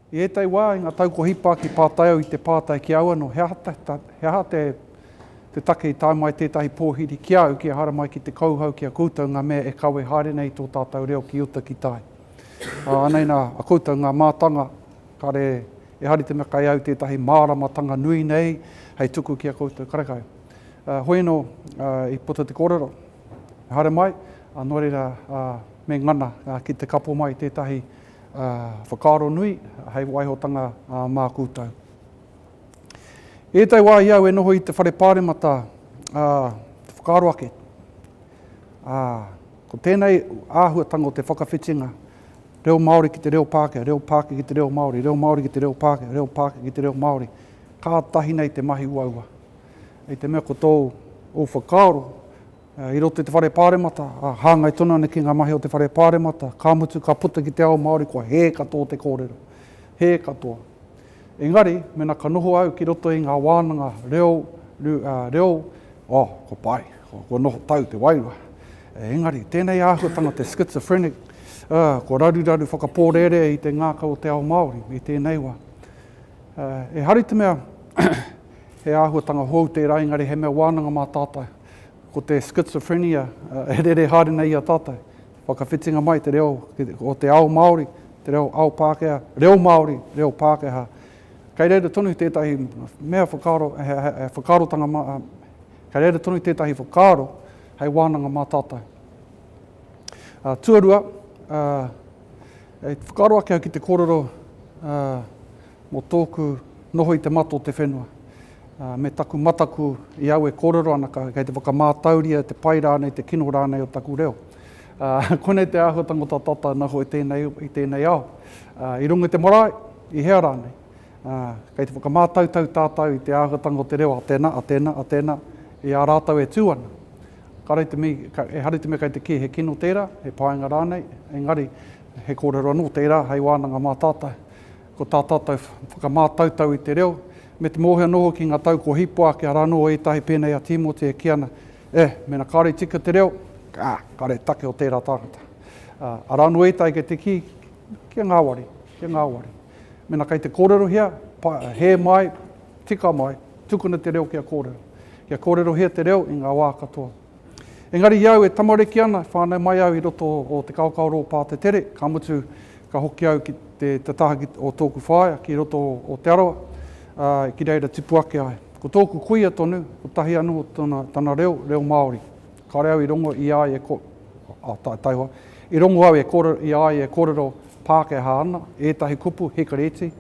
I ētahi wā, i ngā tau kua hipa ki Pātai au i te pātai ki au anō, he aha, he aha te, te take i tae mai tētahi pōhiri ki a au ki ehara mai ki te kauhau ki a koutou ngā mea e kawe haere nei i tō tātou reo ki uta ki tai. Ānei nā, a koutou ngā mātanga Kāre e hari te mea kai au tētahi māramatanga nui nei hei tuku ki a koutou karekau. Hoi anō i puta te kōrero, haere mai, nō reira me ngana ki te kapo mai tētahi whakaaro nui hei waihotanga mā koutou. I ētahi wā i au e noho i te Whare Pāremata te whakaaro ake, ko tēnei āhuatanga o te whakawhitinga Reo Māori ki te reo Pākehā, reo Pākehā ki te reo Māori, reo Māori ki te reo Pākehā, reo Pākehā ki te reo Māori. Kātahi nei te mahi uaua. I te mea ko tōu ō whakaaro, eh, i roto i te whare pāremata, ah, hāngai tonu ana ki ngā mahi o te whare pāremata, ka mutu ka puta ki te ao Māori kua hē katoa te kōrero. Hē katoa. Engari, mena ka noho au ki roto i nga wānanga reo, reo, oh, kua pai, kua noho tau te wairua. Engari, tēnei āhuatanga te schizophrenic, ah, kua raruraru whakapōrērea i te ngākau o te ao Māori i tēnei wā. E hari te mea, he āhuatanga hou tērā, engari he mea wānanga mā tātou. Ko te schizophrenia e rere haere nei i a tātou. Whakawhitinga mai te reo o te ao Māori, te reo ao Pākehā, reo Māori, reo Pākehā. Kei reira tonu tētahi mea whakaaro, he whakaarotanga, kei reira tonu tētahi whakaaro hei wānanga mā tātou. Tuarua, e whakaaro ake au ki te kōrero mō tōku noho i te mato o te whenua. me taku mataku i au e kōrero ana kei te whakamātauria te pai rānei, te kino rānei o taku reo. Konei te āhuatanga o tā tātou ana hoa i tēnei ao. I runga i te marae, i hea rānei, kei te whakamātautau tātou i te āhuatanga o te reo a tēnā, a tēnā, a tēnā, i a rātou e tū ana. Kāre te mea, ehara i te mea kei te kī he kino tērā, he painga rānei, engari he kōrero anō tērā hei wānanga mā tātou. Ko tā tātou whakamātautau i te reo, me te mōhio noho ki ngā tau kua hipa ake, arā noa ētahi pēnei a Tīmoti e kī ana, Eh, mēnā kāore i tika te reo, ā, kāore he take o tērā tāngata. Ā, arā noa ētahi kei te kī, Kia ngāwari, kia ngāwari. Mēnā kei te kōrerohia, pa, hē mai, tika mai, tukuna te reo kia kōrero. Kia kōrerohia te reo i ngā wā katoa. Engari i au e tamariki ana, e whānau mai au i roto o te kaokaoro o Pātetere, ka mutu ka hoki au ki te taha o tōku whaea ki roto o Te Arawa, ā, ki reira tipu ake ai. Ko tōku kuia tonu, kotahi anō tōna, tana reo, reo Māori. Kāore au i rongo i a ia e, ā, tae, taihoa, i rongo au e kōrero, i a ia e kōrero Pākehā ana, ētahi kupu, hikari iti.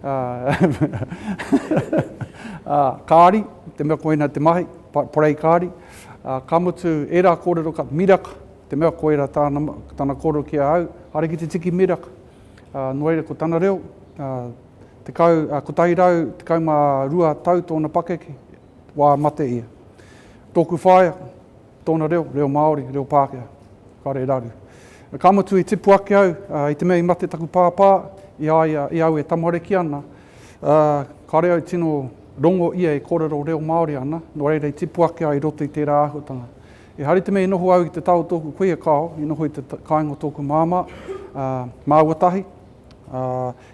ā, kāri, te mea koina te mahi, parei kāri, ā, ka mutu, ērā kōrero ka miraka, te mea koira tāna, tana kōrero ki ahau, haere ki te tiki miraka. Ā, nō reira, ko tana reo, ā, tekau, ā, kotahi rau, tekau mā rua tau tōna pakeke, wā mate ia. Tōku whaea, Tōna reo, reo Māori, reo Pākehā. Ka reira aru. Ka mutu i tipu ake au, i te mea i mate taku pāpā, i a ia, i au e tamariki ana, kāre au tino rongo ia e kōrero reo Māori ana, nō reira i tipu ake au i roto i tērā āhuatanga. Ehara i te mea i noho au i te tao o tōku kuia kāo, i noho i te kāinga o tōku māmā, māua tahi, Ā,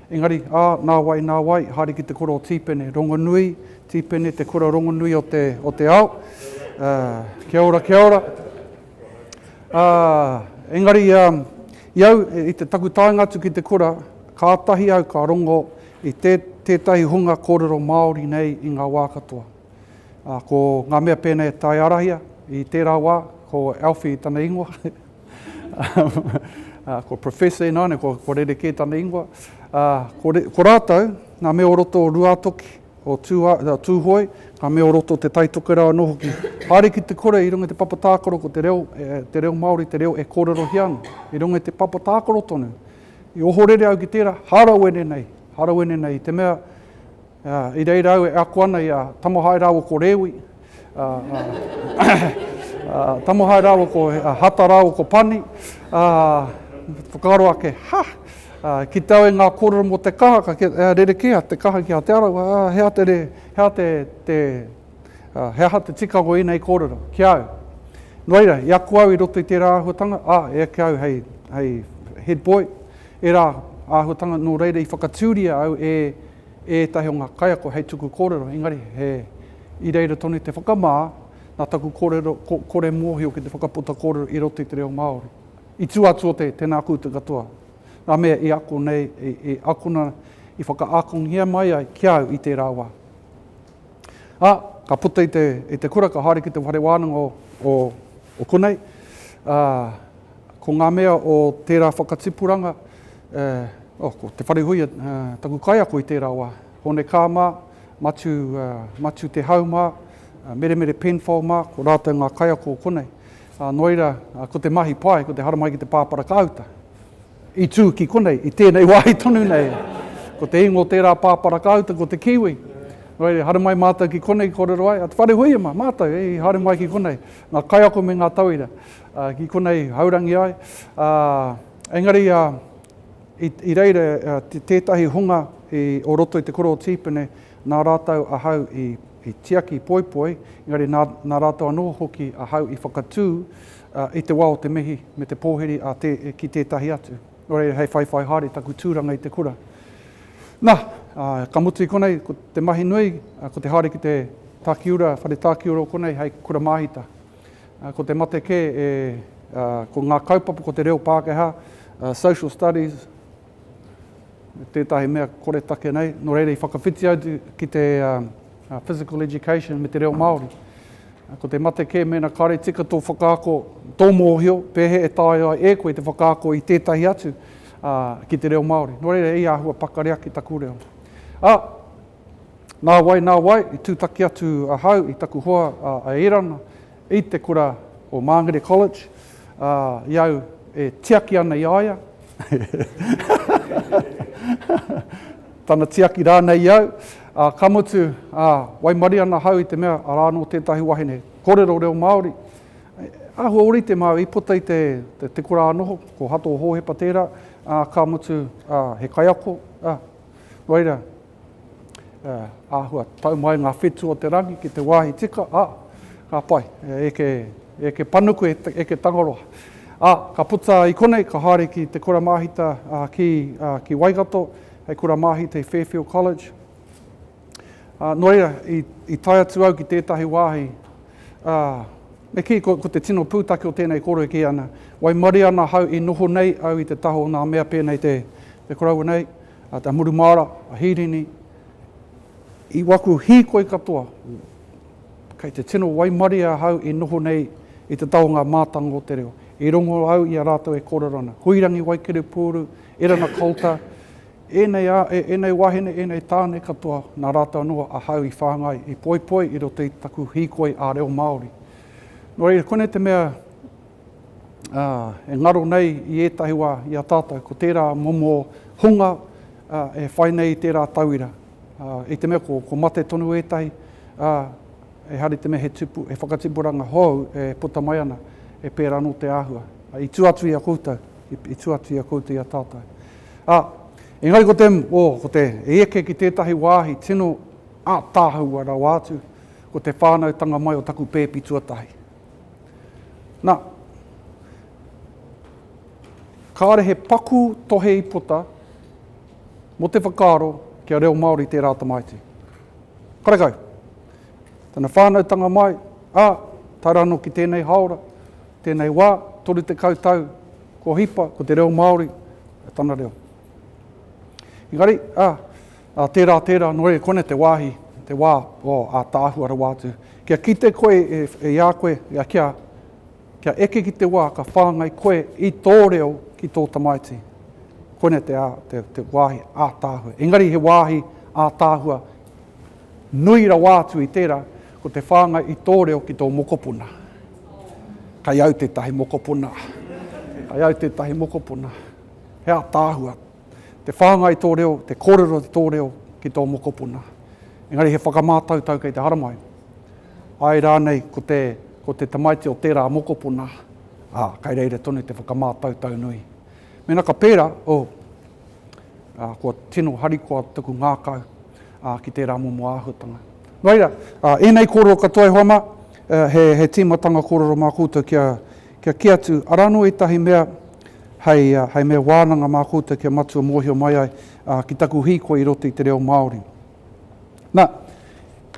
engari, ā, nā wai, nā wai, haere ki te kura o Tīpene, rongonui, Tīpene, te kura rongonui o te, o te ao. Ā, kia ora, kia ora. Ā, engari, ā, i au, i te, taku taenga atu ki te kura, kātahi au ka rongo i tē, tētahi hunga kōrero Māori nei i ngā wā katoa. Ā, ko ngā mea pēnei e taiārahia, i tērā wā, ko Alfie tana ingoa, Ko Professor ināiane, kua rerekē tana ingoa. Ko rātou, ngā mea o roto o Ruātoki, o Tūhoe, ngā mea o roto o Te Tai Tokerau anō hoki. Haere ki te kore i runga i te papa tākaro ko te reo, te reo Māori, te reo e kōrerohia ana. I runga i te papa tākaro tonu, i ohorere au ki tērā, hārawene nei, hārawene nei i te mea, I reira au e ako ana i a Tamohae rāua ko Rewi, Tamohae rāua ko Hata rāua ko Pani, ā, whakaaro ake, Ha! Ki te au e ngā kōrero mō te kaha ka rerekēa te kaha ki a Te Arawa, ā, he aha te, he aha te, te, he aha te tikanga o ēnei kōrero ki a au? No reira, i ako au i roto i tērā āhuatanga, ā, e eke au hei, hei head boy, ērā āhuatanga, nō reira i whakatūria au e, ētahi o ngā kaiako hei tuku kōrero, engari he i reira tonu i te whakamā, nā taku kōrero, ko, kore mōhio ki te whakaputa kōrero i roto i te reo Māori. I tū atu o te, tēnā koutou katoa, ngā mea i ako nei, i, i akona, i whakaakongia mai ai ki a au i tērā wā. Ā, ka puta i te, i te kura, ka haere ki te whare wānanga o, o, o konei, ā, ko ngā mea o tērā whakatipuranga, Ko Te Wharehuia taku kaiako i tērā wā. Honekā mā, Matu, Matu Te Hau mā, Meremere Penfold mā, ko rātou ngā kaiako o konei. Ā, nō reira, ko te mahi pai, ko te haramai ki te pāparakāuta. I tū ki konei, i tēnei wāhi tonu nei. Ko te ingoa o tērā pāparakāuta, ko te Kiwi. Nō reira, i haere mai mātou ki konei, i kōrero ai, a Te Wharehuia mā, mātou, i haere mai ki konei, ngā kaiako me ngā tauira, ki konei haurangi ai. Ā, Engari i reira tētahi hunga o roto i te kura o Tīpene, nā rātou ahau i tiaki poipoi, engari nā rātou anō hoki ahau i whakatū i te wā o te mihi me te pōhiri ki tētahi atu. Nō reira, hei whaiwhai haere taku tūranga i te kura. Na, ka mutu i konei, ko te mahi nui, ko te haere ki te takiura, whare takiura o konei hei kura māhita. Ko te mate kē e, ko ngā kaupapa, ko te reo Pākehā, social studies, me tētahi mea koretake nei, nō reira i whakawhiti au ki te physical education me te reo Māori. Ko te mate kē mēnā kāre tika tō whakaako, tō mōhio, pēhea e taea ai e koe te whakaako i tētahi atu ki te reo Māori. Nō reira, i āhua pakari ake taku reo. Ā, Nāwai, nāwai, i tūtaki atu ahau i taku hoa a Erana i te kura o Māngere College, ā, i au e tiaki ana i a ia, tana tiaki rānei i au, ā, ka mutu, ā, waimarie ana ahau i te mea arā anō tētahi wahine kōrero reo Māori, āhua ōrite māu i puta i te, te kura ā-noho, ko Hato Hōhepa tērā, ā, ka mutu, ā, he kaiako, ā, Noira, e āhua tau mai ngā whetū o te rangi ki te wāhi tika, ā, ka pai, e eke, e eke panuku, e eke tangaroa. Ā, ka puta i konei, ka haere ki te kura māhita, ā, ki, ā, ki Waikato, hei kura māhita i Fairfield College. Ā, nō reira, i, i tae atu au ki tētahi wāhi, ā, me kī, ko, ko te tino pūtake o tēnei kōrero e kī ana, waimarie ana ahau i noho nei au i te taha o ngā mea pēnei te, te koroua nei, ā, te murumāra, a Hīrini, i waku hīkoi katoa, kei te tino waimarie ahau i noho nei i te taha o ngā mātanga o te reo. I rongo au i a rātou e kōrero ana. Huirangi Waikiripūru, Erana Kolta, Ēnei āe, ēnei wāhine, ēnei tāne katoa, nā rātou anō ahau i whāngai, i poipoi i roto i taku hīkoi ā-reo Māori. Nō reira, konei te mea e ngaro nei i ētahi wā i a tātou, ko tērā momo hunga e whai nei i tērā tauira. I te mea ko, ko mate tonu ētahi, ehara i te mea he, tipu, he whakatipuranga hou e puta mai ana, e pērā anō te āhua. I tua atu i a koutou. i tua atu i a koutou i a tātou. Ā, engari ko te, o, ko te e eke ki tētahi wāhi tino ātaahaua rawa atu, ko te whānautanga mai o taku pēpi tuatahi. Nā, kāre he paku tohe i puta mō te whakaaro kia reo Māori tērā tamaiti. Karekau, tana whānautanga mai, ā, tae rā anō ki tēnei haora, tēnei wā, 30 tau kua hipa, ko te reo Māori tana reo. Engari, ā, ā, tērā, tērā, nō reira, koinei te wāhi, te wā o ātaahua rawa atu. Kia kite koe e, e i a koe, ia kia, kia eke ki te wā ka whāngai koe i tō reo ki tō tamaiti. Koinei te, ā, te, te wāhi ātaahua. Engari he wāhi ātaahua nui rawa atu i tērā, Ko te whāngai i tō reo ki tō mokopuna. Kai au tētahi mokopuna. Kai au tētahi mokopuna. He ātaahua te whāngai i tō reo, te kōrero i tō reo ki tō mokopuna. Engari he whakamātautau kei te haramai. Āe rānei ko te, ko te tamaiti o tērā mokopuna, ā, kai reira tonu te whakamātautau nui. Mēnā ka pērā, oh, ā, kua tino harikoa taku ngākau. ā, ki tērā momo āhuatanga. Nō reira, ēnei kōrero katoa e hoa mā, he tīmatanga kōrero mā koutou kia kī atu, arā anō ētahi mea hei mea wānanga mā koutou kia matua mōhio mai ai ki taku hīkoi i roto i te reo Māori. Nā,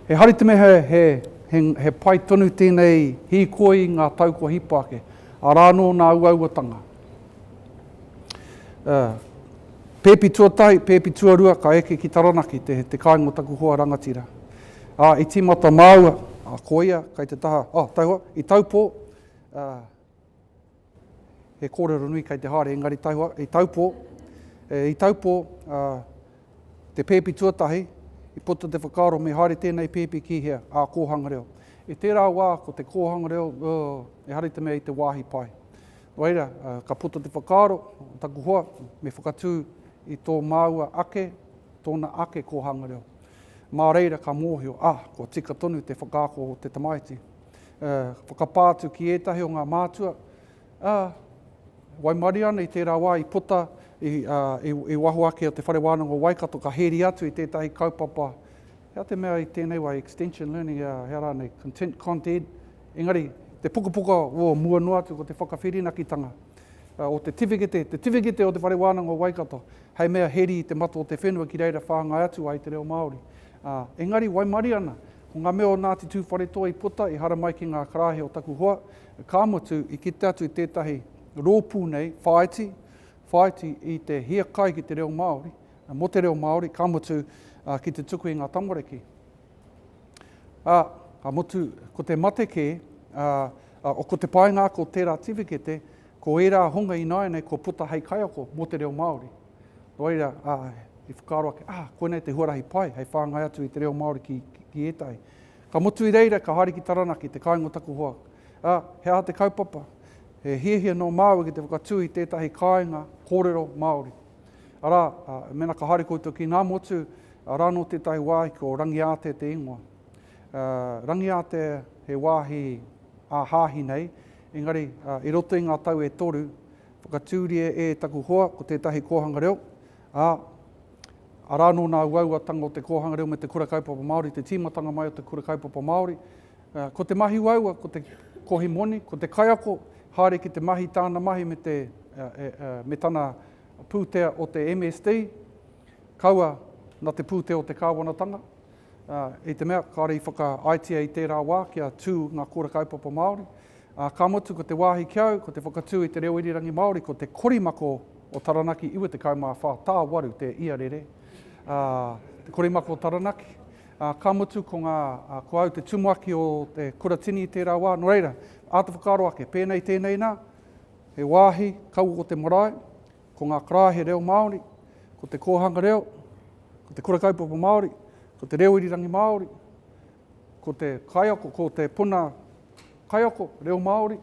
ehara i te mea he pai tonu tēnei hīkoi i ngā tau kua hipa ake, arā anō nā uauatanga, Pēpi tuatahi, pēpi tuarua, ka eke ki Taranaki, te, te kāinga o taku hoa rangatira. Ā, i tīmata māua, ā, ko ia kei te taha, ā, tauhua, i Taupō, ā, he kōrero nui kei te haere, engari tauhua, i Taupō, e, i Taupō, ā, te pēpi tuatahi, i puta te whakaaro me haere tēnei pēpi ki hea, ā, kōhanga reo. I tērā wā, ko te kōhanga reo, ō, ehara i te mea i te wāhi pai. Whaira, ka puta te whakaaro o taku hoa me whakatū i tō māua ake, tōna ake kōhanga reo. Mā reira ka mōhio, ah, kua tika tonu te whakaako o te tamaiti. Ka whakapā atu ki ētahi o ngā mātua, ah, waimarie ana i tērā wā i puta i waho ake o te Whare Wānanga o Waikato, ka hēri atu i tētahi kaupapa, hea te mea i tēnei wā, extension learning, hea rānei, content content, Engari, te pukapuka o mua noa atu ko te whakawhirinakitanga o te tiwhikete, te tiwhikete o Te Whare Wānanga o Waikato, hei mea heri i te mata o te whenua ki reira whāngai atu ai te reo Māori. Ā, engari waimarie ana, ko ngā mea o Ngāti Tūwharetoa i puta, i haramai ki ngā karāhe o taku hoa, ka mutu i kite atu i tētahi rōpū nei, whāiti, whāiti i te hiakai ki te reo Māori, mō te reo Māori, ka mutu ki te tuku i ngā tamariki. Ā, ka mutu, ko te mate kē, ā, ko te paenga ake o tērā tiwhikete, ko ērā honga ināianei kua puta hei kaiako mō te reo Māori. Nō reira, ā, i whakaaro ake, ā, koinei te huarahi pai hei whāngai atu i te reo Māori ki, ki ētahi. Ka mutu i reira, ka haere ki Taranaki, te kāinga o taku hoa. Ā, he aha te kaupapa? He hiahia nō māua ki te whakatū i tētahi kāinga kōrero Māori. Arā, ā, mēnā ka haere koutou ki Ngāmotu, Arā nō tētahi wāhi ko Rangiātea te ingoa. Rangiātea he wāhi ā-hāhi nei, engari i roto i ngā tau e toru, whakatūria e taku hoa ko tētahi kōhanga reo, ā, arā nō nā uauatanga o te kōhanga reo me te Kura Kaupapa Māori, te tīmatanga mai o te Kura Kaupapa Māori. Ko te mahi uaua, ko te kohi moni, ko te kaiako, haere ki te mahi, tāna mahi me tana pūtea o te MSD, Kaua na te pūtea o te Kāwanatanga, ā, i te mea kāore i whakaaetia i tērā wā kia tū ngā kōra kaupapa Māori, ā, ka mutu ko te wāhi ki au, ko te whakatū i te reo irirangi Māori, ko te korimako o Taranaki 94 tā waru te ia rere, ā, te korimako o Taranaki, ā, ka mutu ko ngā, ā, ko au te tumuaki o te kuratini i tērā wā, nō reira, āta whakaaro ake, pēnei tēnei nā, he wāhi kaua ko te marae, Ko ngā karae he reo Māori, ko te kōhanga reo, ko te kura kaupapa Māori, ko te reo irirangi Māori, ko te kaiako, ko te puna kaiako, reo Māori.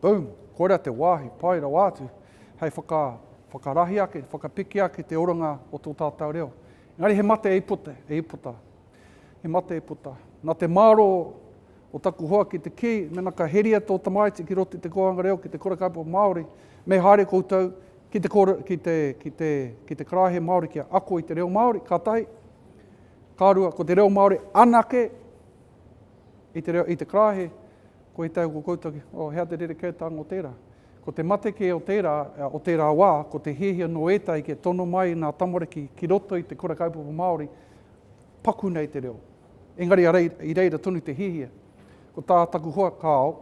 Boom! Koira te wāhi pai rawa atu hei whaka, whakarahi ake, whakapiki ake te oranga o tō tātou reo. Engari he mate e ipota, e ipota. He mate e puta. Na te maro o taku hoa ki te kii, mena ka heria to tamaiti ki roto i te kouanga reo ki te kura kaupapa Maori, me haere koutou ki te kore, ki te, ki te, ki te karaehe Maori kia ako i te reo Maori, ka tahi. Ka rua, ko te reo Maori anake i te reo, i te karaehe, ko i tau ko koutou ki, oh, hea te rerekētanga o tērā. Ko te mate kē o tērā, o tērā wā, ko te hiahia no ētahi kia tono mai nā tamariki ki roto i te kura kaupapa Maori, Paku nei te reo. Engari ara i reira tonu te hiahia. Ko tā taku hoa kāo,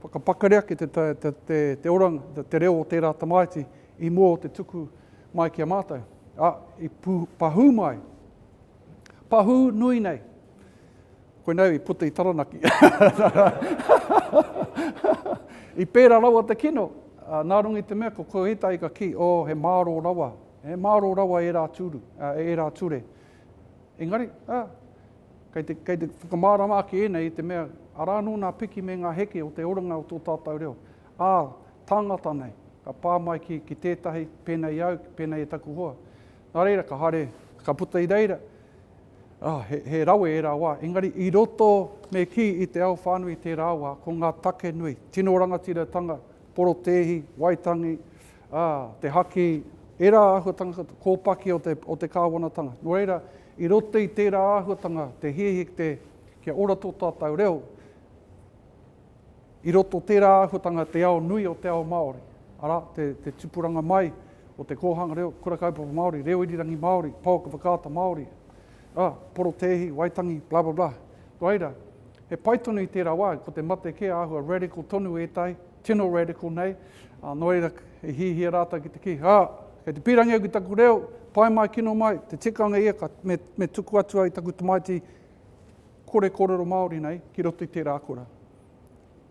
whakapakari ake te te oranga, te reo o tērā tamaiti i mua o te tuku mai ki a mātou. Ā, i pahū mai, pahū nui nei. Koinei i puta i Taranaki. I pērā rawa te kino, ā, nā runga i te mea ko Kohetai ka kī, oh, he mārō rawa, he mārō rawa ērā tūru, ā, ērā ture. Engari, ā, kei te, kei te whakamārama ake ēnei i te mea, arā anō ngā piki me ngā heke o te oranga o tō tātou reo. Ā, tāngata nei, ka pā mai ki, ki tētahi, pēnei au, pēnei e taku hoa. Nā reira, ka haere, ka puta i reira, Ah, he, he rawe ērā wā, engari i roto me kī i te ao whānui i tērā wā, ko ngā take nui, tino rangatiratanga, porotēhi, waitangi, ah, te haki, ērā āhuatanga kōpaki o te, o te kāwanatanga. Nō reira, i roto i tērā āhuatanga, te hiahia ki te, kia ora tō tātou reo, I roto tērā āhuatanga te ao nui o te ao Māori, arā, te, te tupuranga mai o te kōhanga reo, kura kaupapa Māori, reo irirangi Māori, pouaka whakaata Māori, ā, porotēhi, waitangi, blah, blah, blah. Nō reira, he pai tonu i tērā wā, ko te mate kē āhua radical tonu ētahi, tino radical nei, ā, nō reira, i hihia rātou ki te kī, ā, kei te pīrangi au ki taku reo, pai mai, kino mai, te tikanga ia, ka, me, me tuku atu au i taku tamaiti kore kōrero Māori nei ki roto i tērā kura.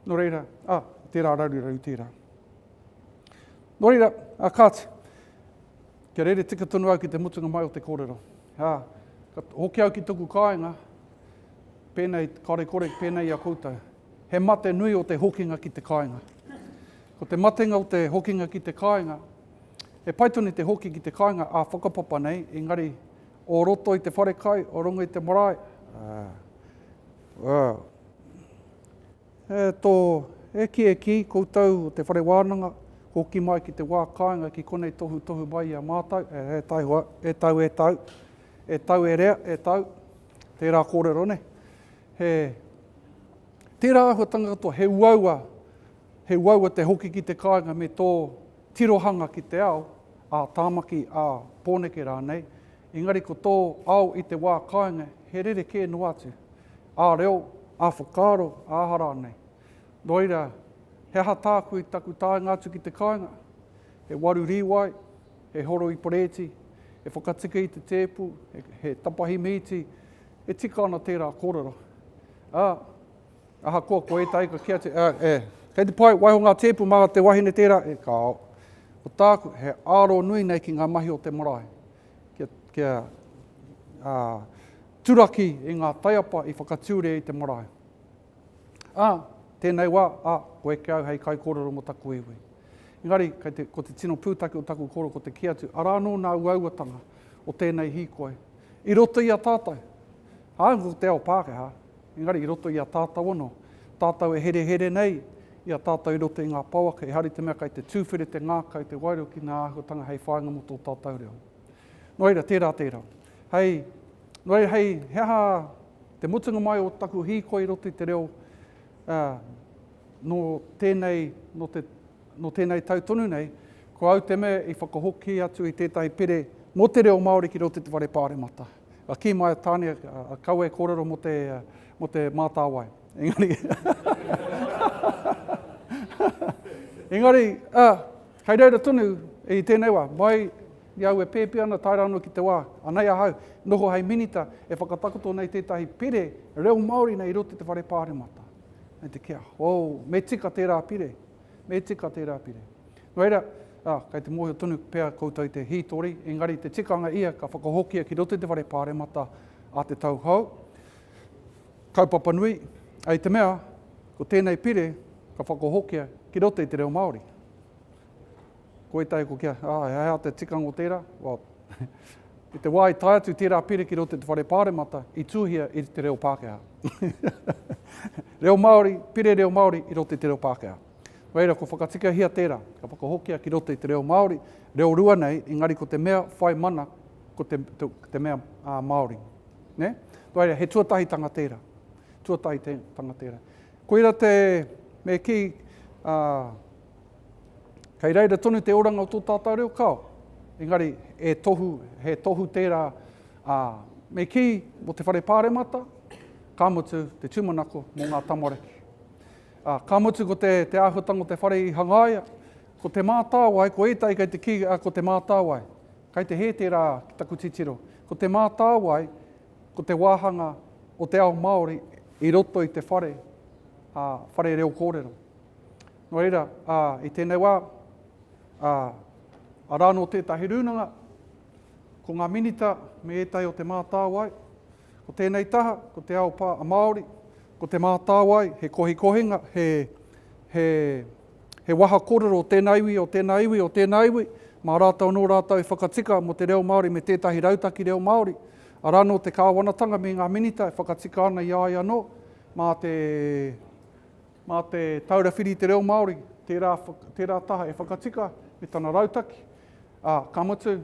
Nō reira, a, ah, tērā raruraru tērā. Nō reira, a, ah, kāti, kia rere tika tonu au ki te mutunga mai o te kōrero. A, ah, ka hoki au ki toku kāinga, pēnei, kare kore, pēnei a koutou. He mate nui o te hokinga ki te kāinga. Ko te matenga o te hokinga ki te kāinga, e pai tonu te hoki ki te kāinga a whakapapa nei, engari O roto i te wharekai, o runga i te marae, e tō, e kī, e kī, koutou o te whare wānanga, hoki mai ki te wā kāinga ki konei tohutohu mai i a mātou, e taihoa, e tau, e tau, e tau e rea, e tau, tērā kōrero nei. He, tērā āhuatanga katoa, he uaua, he uaua te hoki ki te kāinga me tō, Tirohanga ki te ao, ā Tāmaki, ā Pōneke rānei, engari ko tō ao i te wā kāinga he rerekē noa atu, ā reo, ā whakaaro, ā aha rānei. Nō reira, he aha tāku i taku taenga atu ki te kāinga? He waru rīwai, he horo i parēti, he whakatika i te tēpu, he tapahi mīti, e tika ana tērā kōrero. Ā, Ahakoa ko ētahi ka kīa te, e, kei te pai, waiho ngā tēpu mā te wahine tērā, e, kāo. Ko tāku, he āro nui nei ki ngā mahi o te marae, kia, kia ā, turaki i ngā taiapa i whakatūria i te marae. Ā, tēnei wā, ā, ko eke au hei kaikōrero mō taku iwi. Engari, kei te, ko te tino pūtake o taku kōrero ko te kī atu, arā anō nā uauatanga o tēnei hīkoi i roto i a tātou. Ā, ko te ao Pākehā, Engari i roto i a tātou anō, tātou e herehere nei i a tātou i roto i ngā pouaka, ehara i te mea kei te tūwhiri te ngākau, te wairua ki ngā āhuatanga hei whāinga mō tō tātou reo. Nō reira, tērā, tērā. Hei, nō reira, hei, he aha te mutunga mai o taku hīkoi i roto i te reo, ā, nō tēnei, nō te, nō tēnei tau tonu nei, ko au te mea i whakahoki atu i tētahi pire mō te reo Māori ki roto i te Whare Pāremata. Ka kī mai a Tāne, Kaua e kōrero mō te, mō te mātāwai. Engari, engari, ā, kei reira tonu i tēnei wā, mai i au e pēpi ana, tae rā anō ki te wā, anei ahau, noho hei minita e whakatakoto nei tētahi pire reo Māori nei i roto i te whare pāremata. Nei te kia, ō, me tika tērā pire. Me tika tērā pire. Nō reira, ā, kei te mōhio tonu pea koutou i te hītori, engari te tikanga ia ka whakahokia ki roto i te whare pāremata a Te Tau Hou, kaupapa nui, hei te mea, ko tēnei pire ka whakahokia ki roto i te reo Māori. Ko ētahi ko kia, ā, he aha te tikanga o tērā? Well, i te wā i tae atu tērā pire ki roto i te Whare Pāremata, i tuhia i te reo Pākehā. reo Māori, pire reo Māori i roto i te reo Pākehā. Nō reira, ko whakatikahia tērā, ka whakahokia ki roto i te reo Māori, reo rua nei, engari ko te mea whai mana, ko te, te, te mea uh, Māori. Ne? Nō reira, he tuatahitanga tērā. Tuatahitanga tērā. Koira te, me ki, uh, Kei reira tonu te oranga o tō tātou reo kao, engari e tohu, he tohu tērā a me kī mō te whare pāremata, ka mutu te tūmanako mō ngā tamariki. A, ka mutu ko te, te āhuatanga o te whare i hangaia, ko te mātāwai, ko ētai kei te kī, a, ko te mātāwai. Kei te hē tērā ki taku titiro. Ko te mātāwai, ko te wāhanga o te ao Māori i roto i te whare, a, whare reo kōrero. Nō reira, ā, i tēnei wā, ā, arā anō tētahi rūnanga, ko ngā minita me ētahi o Te Mātāwai, ko tēnei taha, ko Te Ao Pā, a Māori, ko Te Mātāwai, he kohikohinga, he, he, he waha kōrero o tēnā iwi, o tēnā iwi, o tēnā iwi, mā rātou anō rātou e whakatika mō te reo Māori me tētahi rautaki reo Māori, arā anō te kāwanatanga me ngā minita e whakatika ana i a ia anō, mā te, Mā te Taura Whiri i te Reo Māori tērā, tērā taha e whakatika me tana rautaki, ā, ka mutu,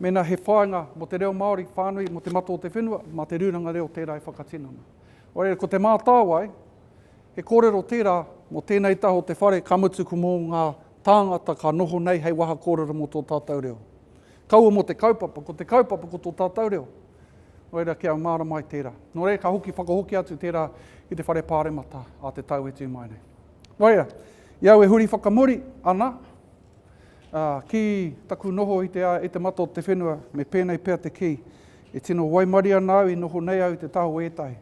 mēnā he whāinga mō te reo Māori whānui, mō te matua o te whenua, mā te rūranga reo tērā e whakatinana. Nō reira, ko Te Mātāwai, he kōrero tērā mō tēnei taha o te whare, ka mutu ko mō ngā tāngata ka noho nei hei waha kōrero mō tō tātou reo. Kaua mō te kaupapa, ko te kaupapa ko tō tātou reo. Nō reira, kia mārama ai tērā. Nō reira, ka hoki whakahokia atu tērā ki te whare pāremata a te tau e tū mai nei. Nō reira, i au e huri whakamuri ana uh, ki taku noho i te, i te mata o te whenua, me pēnei pea te kī, e tino waimari ana au i noho nei au i te taho ētahi.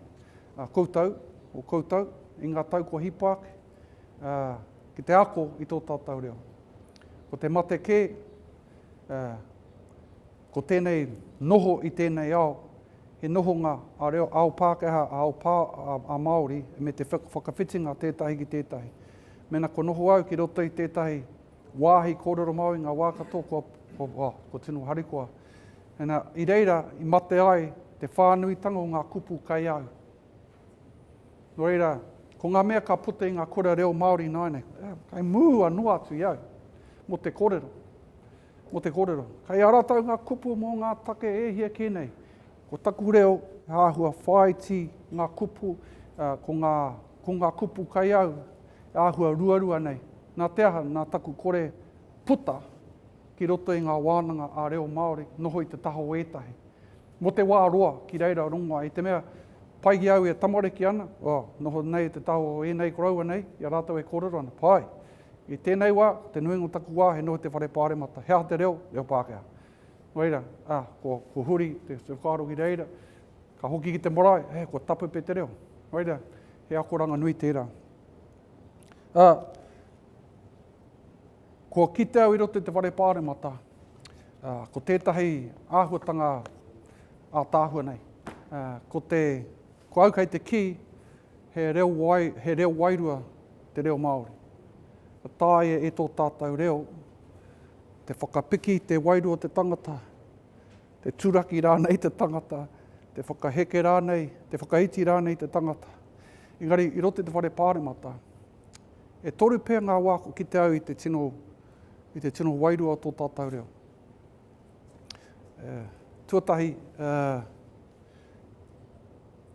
Uh, koutou, o koutou, i ngā tau kua hipa ake, uh, ki te ako i tō tātou reo. Ko te mate kē, ko tēnei noho i tēnei ao, he nohonga a reo ao Pākehā, a ao pā, a, a Māori, me te whakawhitinga tētahi ki tētahi. Mena ko noho au ki roto i tētahi wāhi kōrero māu i ngā wā katoa, ko, ko, ko, ko tino harikoa. Ena, i reira, i mate ai te whānuitanga o ngā kupu kai au. Nō reira, ko ngā mea ka puta i ngā kura reo Māori ināianei, kei mua noa atu i au, mō te kōrero, mō te kōrero. Kei a rātou ngā kupu mō ngā take e hia kē nei. Ko taku reo, he āhua whāiti ngā kupu, ko ngā, ko ngā kupu kei au, he āhua ruarua nei. Nā te aha, nā taku kore puta ki roto i ngā wānanga ā-reo Māori, noho i te taha o ētahi. Mo te wa roa ki reira rongoa i te mea pai ki au e tamariki ana, oh, noho nei e te taha o enei koroua nei i a ratou e korero ana, pai. I tenei wa, ko te nuinga o taku wa he noho te whare paremata, he aha te reo, reo Pakeha. No reira, ah, ko, ko huri te, te whakaaro ki reira, ka hoki ki te marae, eh, ko tapupe te reo. No reira, he akoranga nui tera. Ah, Kua kite au i roto i te whare pāremata, ko tētahi āhuatanga ātaahua nei, ko te, ko au kei te kī, he reo, wai, he reo wairua te reo Māori. Ka tāia e tō tātou reo, te whakapiki i te wairua o te tangata, te turaki rānei te tangata, te whakaheke rānei, te whakaiti rānei te tangata. Engari, i roto i te whare pāremata, E toru pea ngā wā kua kite au i te tino, i te tino wairua o tō tātou reo. Uh, tuatahi, uh,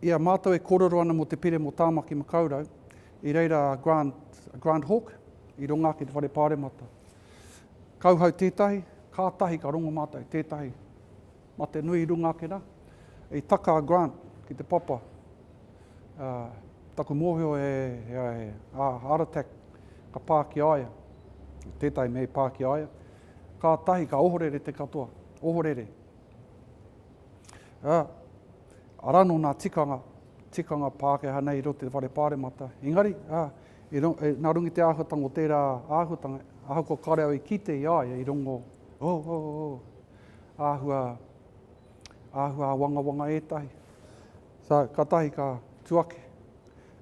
i a mātou e kōrero ana mō te pire mō Tāmaki Makaurau, i reira a Grant, a Grant Hawk, i runga ake te whare pāremata. Kauhau tētahi, kātahi ka rongo mātou tētahi. Ma te nui runga ake na, i taka a Grant ki te papa. A, taku mohio he, he, he, a, heart attack ka pa ki a ia. Tetahi mea i pa ki a ia. Katahi ka ohorere te katoa. Ohorere. A, ara no na tikanga, tikanga Pakeha nei i roto i te whare paremata. Engari, a, i ro, e, na runga i te ahuatanga o tera ahuatanga, ahakoa kare au i kite i a ia i rongo, oh, oh, oh, oh. āhua, āhua āwangawanga ētahi. Sa, ka tahi ka tu ake,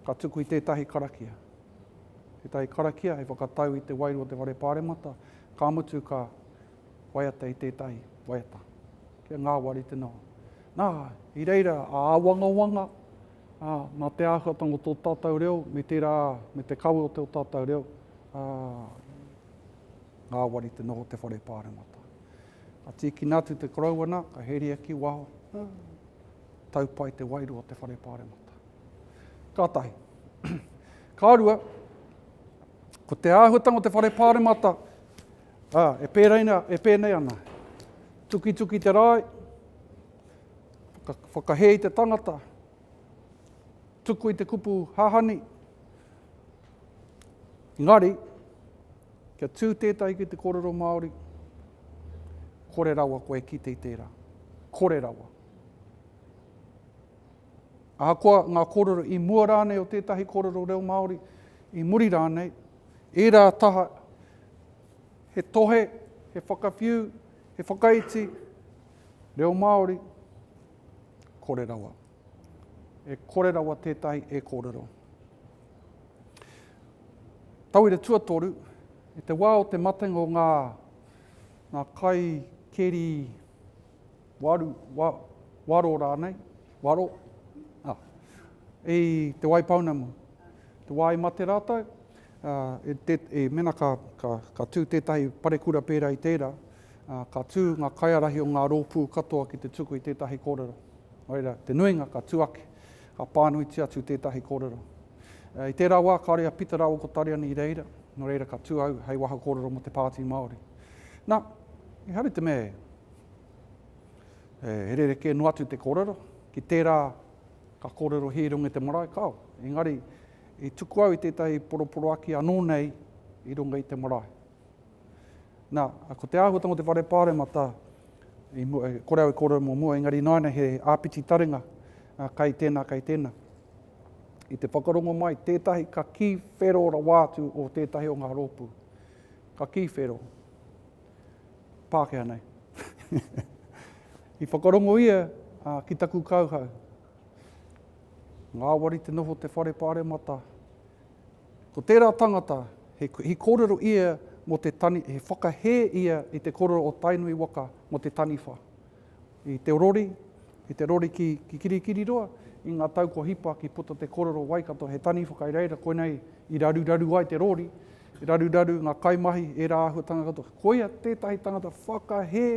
ka tuku i tētahi karakia. Tētahi karakia hei whakatau i te wairua o te whare pāremata, ka mutu ka waiata i tētahi waiata. Kia ngāwari te noho. Nā, i reira a āwangawanga, ā, nā te āhuatanga o tō tātou reo, me tērā, me te kawe o tō tātou reo, ā, ngāwari te noho te whare pāremata. Ka tīkina atu te korouana, ka heria ki waho. Tau pai te wairua o te whare pāremata. Ka tahi. Ka rua, ko te āhuatanga o te whare pāremata, ā, e pēreina, e pēnei ana. Tukituki te rāi, whakahē i te tangata, tuku i te kupu hahani, ngari, Kia tū tētahi ki te kōrero Māori, kore rawa koe e kite i tērā. Kore rawa. Ahakoa ngā kōrero i mua rānei o tētahi kōrero reo Māori, i muri rānei, ērā taha he tohe, he whakawhiu, he whakaiti, reo Māori, kore rawa. E kore rawa tētahi e kōrero. Tauira tuatoru, i te wā o te matenga o ngā ngā kai keri waru, wa, waro rānei, waro, ah, i te wai pounamu. Te wā i mate rātou, uh, e, te, e mena ka, ka, ka tū tētahi parekura pērā i tērā, uh, ka tū ngā kaiarahi o ngā rōpū katoa ki te tuku i tētahi kōrero. Oira, te nuinga ka tū ake. Ka pānuitia atu tētahi kōrero. I tērā wā kāore a Pita rāua ko Tariana i reira, nō reira ka tū au hei waha kōrero mō te Pāti Māori. Nā, ehara i te mea e rerekē noa atu te kōrero, ki tērā ka kōrero hīrunga te marae, kāo. Engari, i tuku au i tētahi poroporoaki anō nei i runga i te marae. Nā, ko te āhuatanga o te whare pāremata, i mua, kore au e kōrero mō mua, engari ināianei he āpiti taringa, kai tēnā, kai tēnā. I te whakarongo mai, tētahi ka kī whero rawa atu o tētahi o ngā rōpū. Ka kī whero. Pākehā nei. I whakarongo ia uh, ki taku kauhau. Ngāwari te noho te whare pāremata, Ko tērā tangata, he kōrero ia mō te tani, he whakahē ia i te kōrero o Tainui waka mō te taniwha. I te rori, i te rori ki Kirikiriroa, i ngā tau kua hipa ki puta te kōrero Waikato he taniwha kai reira, koinei i raruraru ai te rori, i raruraru ngā kaimahi, ērā āhuatanga katoa. Koia tētahi tangata whakahē,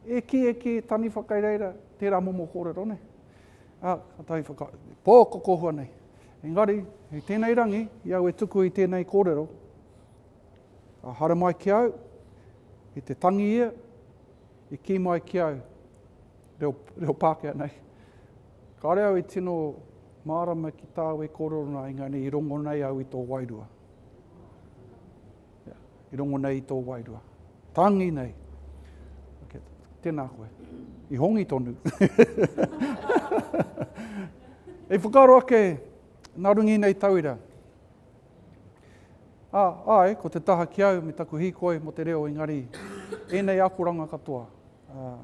e kī, e kī, taniwha kai reira, tērā momo kōrero nei. Ā, ka tahi whaka, pō ko kohua nei. Engari, i tēnei rangi, i au e tuku i tēnei kōrero, ka haere mai ki au, i te tangi ia, i kī mai ki au, reo, reo Pākehā nei, kāre au i tino mārama ki tāu e kōrero nā, engari i rongo nei au i tō wairua. i rongo nei i tō wairua. Tangi nei. Okay. Tēnā koe. I hongi tonu. e whakaro ake, nā rungi nei tauira. A, ai, ko te taha ki au me taku hīkoi mo te reo engari, ēnei akoranga katoa. A,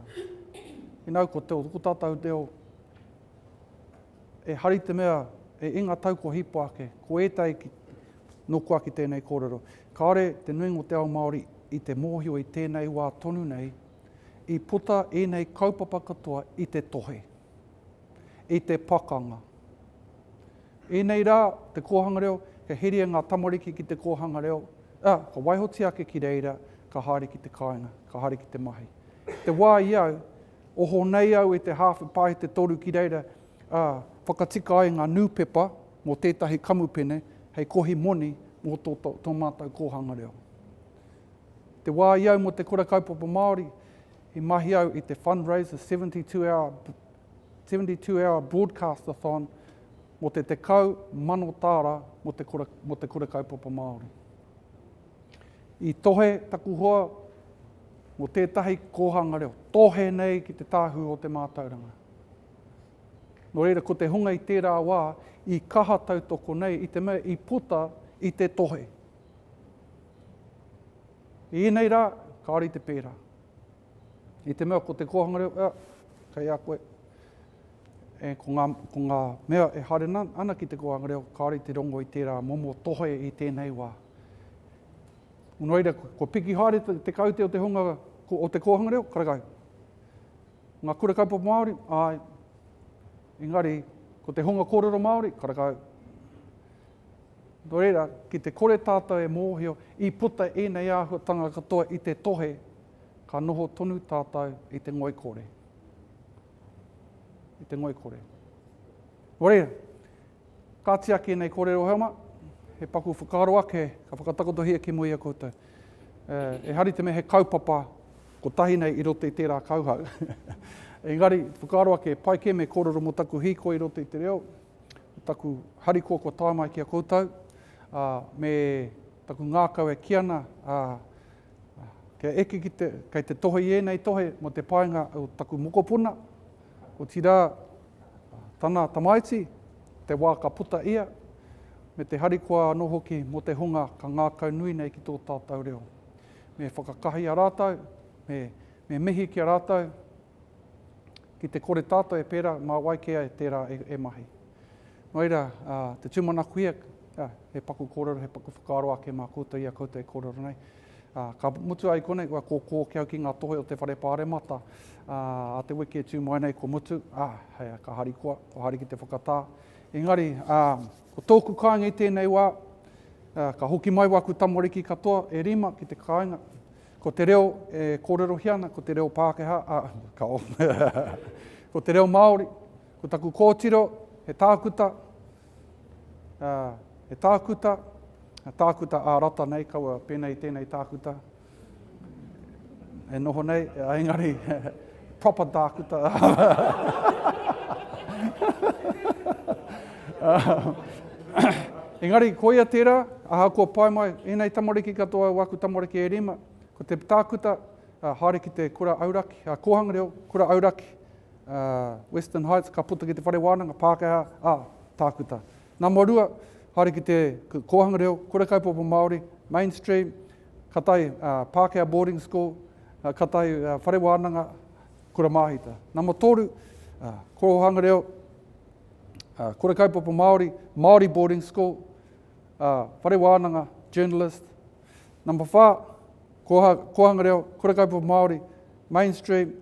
inau ko te o ko tātou reo, e hari te mea, e inga tau ko hipo ake, ko ētai ki, Nō kua ki tēnei kōrero. Kāore te nuinga o te ao Māori i te mōhio i tēnei wā tonu nei, i puta ēnei kaupapa katoa i te tohe, i te pakanga. Ēnei rā, te kōhanga reo, kia heria ngā tamariki ki te kōhanga reo, ā, ka waihotia ake ki reira, ka haere ki te kāinga, ka haere ki te mahi. Te wā i au, oho nei au i te hāwhe pāhete toru ki reira, ā, whakatika ai ngā nūpepa, mō tētahi kamupene hei kohi moni mō tō, tō mātou kōhanga reo. Te wā i au mō te Kura Kaupapa Māori, i mahi au i te Fundraiser 72 Hour, 72 Hour Broadcast-a-Thon mō te tekau mano tāra mō te Kura, mō te Kura Kaupapa Māori. I tohe taku hoa mō tētahi kōhanga reo, tohe nei ki te tāhū o te mātauranga. Nō reira, ko te hunga i tērā wā i kaha tautoko nei i te mea i puta i te tohe. I ēnei rā, kāore i te pērā. I te mea ko te kōhanga reo, ea, kei a koe. E, ko, ngā, ko ngā mea e haere ana ki te kōhanga reo, kāore i te rongo i tērā momo tohe i tēnei wā. Nō reira, ko piki haere te, te kaute o te hunga o te kōhanga reo, karekau. Ngā kura kaupapa Māori, āe. Engari, ko te hunga kōrero Māori, karekau. Nō reira, ki te kore tātou e mōhio i puta ēnei āhuatanga katoa i te tohe, ka noho tonu tātou i te ngoikore. I te ngoikore. Nō reira, Ka tiaki ēnei kōrero hema, he paku whakaaro ake ka whakatakotohia ki mua i a koutou. E hari te mea he kaupapa kotahi nei i roto i tērā kauhau. Engari, whakaaro ake, e pai kē me kōrero mō taku hīkoi i roto i te reo, taku harikoa kua tae mai ki a koutou, ā, me taku ngākau e kī ana, ā, kia eke ki te, kei te tohe i ēnei tohe mō te painga o taku mokopuna, Otirā, tana tamaiti, te wā ka puta ia, me te harikoa anō hoki mō te hunga ka ngākau nui nei ki tō tātou reo. Me whakakahia rātou, me, me mihi ki a rātou, ki te kore tātou e pērā, mā wai kē ai tērā e, e mahi. Nō reira, te tūmanakohia, he paku kōrero, he paku whakaaro ake mā koutou i a koutou e kōrero nei. Ā, ka mutu ai konei, kua kōkō kia au ki ngā tohe o te whare pāremata, ā, a te wiki e tū mai nei kua mutu, ā, hei a, ka harikoa, kua haere ki te whakatā. Engari, ā, ko tōku kāinga i tēnei wā, ā, ka hoki mai wāku tamariki katoa e rima ki te kāinga, ko te reo e kōrerohia ana, ko te reo Pākehā, ā, ka o, ko te reo Māori, ko taku kōtiro, he tākuta, ā, he tākuta, tākuta ā-rata nei, kaua pēnei tēnei tākuta e noho nei, engari proper tākuta. engari, koia tērā, aha kua pae mai, ēnei tamariki katoa o aku tamariki e rima, ko te tākuta, haere ki te kura auraki, kōhanga reo, kura auraki, Western Heights, ka puta ki te whare wānanga, Pākehā, ā, Tākuta. Nā mua rua, haere ki te kōhanga reo, kura kaupapa Māori, mainstream, ka tae Pākehā boarding school, ka tae whare wānanga, kura māhita. Nā mua tōru, kōhanga reo, kura kaupapa Māori, Māori boarding school, whare wānanga, journalist. Nā mua whā, kōhanga reo, kura kaupapa Māori, mainstream,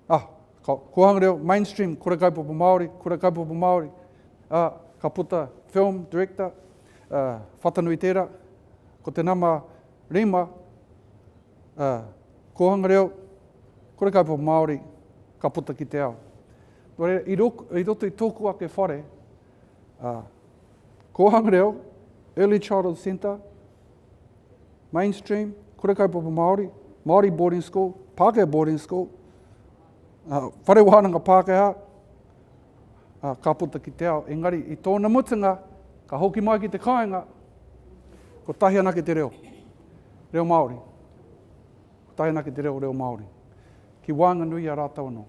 Ah, ka Kōhanga Reo, mainstream, kura kaupapa Māori, kura kaupapa Māori, ah, ka puta film, director, ah, Whatanui tērā, ko te nama rima, ah, Kōhanga Reo, kura kaupapa Māori, ka puta ki te ao. Nō reira, i, rok, i roto i tōku ake whare, ah, Kōhanga Reo, Early Childhood Centre, mainstream, kura kaupapa Māori, Māori boarding school, Pākehā boarding school, uh, whare wānanga Pākehā, uh, ka puta ki te ao. Engari, i tōna mutunga, ka hoki mai ki te kāinga, ko tahi anake te reo, reo Māori. Ko tahi anake te reo, reo Māori. Ki wānganui a rātau anō.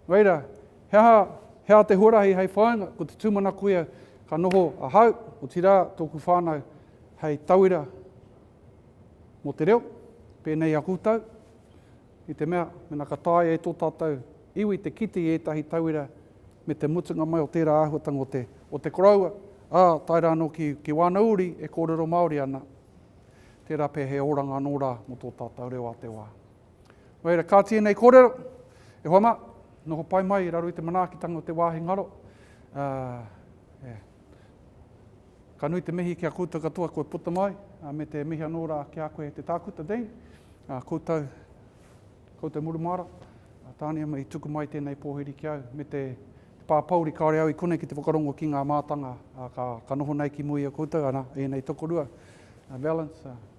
Whai rā, he aha, he aha te huarahi hei whāinga? Ko te tūmanako ia ka noho ahau, otirā tōku whānau hei tauira mō te reo, pēnei i a koutou, i te mea, mena ka taea e tō tātou iwi te kite i ētahi tauira me te mutunga mai o tērā āhuatanga o te, o te koroua, ā, tae rā anō ki, ki wāna uri e kōrero Māori ana, tērā pea he oranga anō rā mō tō tātou reo a te wā. Nō reira, kā tēnei kōrero, e hoa mā, noho pai mai i raro i te manaakitanga o te wāhi ngaro. Uh, Ka nui te mihi ki a koutou katoa koe puta mai, me te mihi anō rā ki a koe te tākuta Dean, a koutou, koutou murumāra, a tāne ama i tuku mai tēnei pōhiri ki au, me te, te pāpauri kāore au i kone ki te whakarongo ki ngā mātanga, a, ka, ka noho nei ki mui a koutou, ana, ēnei tokorua, a Valence, a,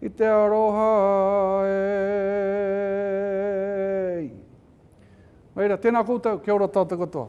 I te aroha e i. Whai ra, tēnā koutou, kia ora tātou katoa.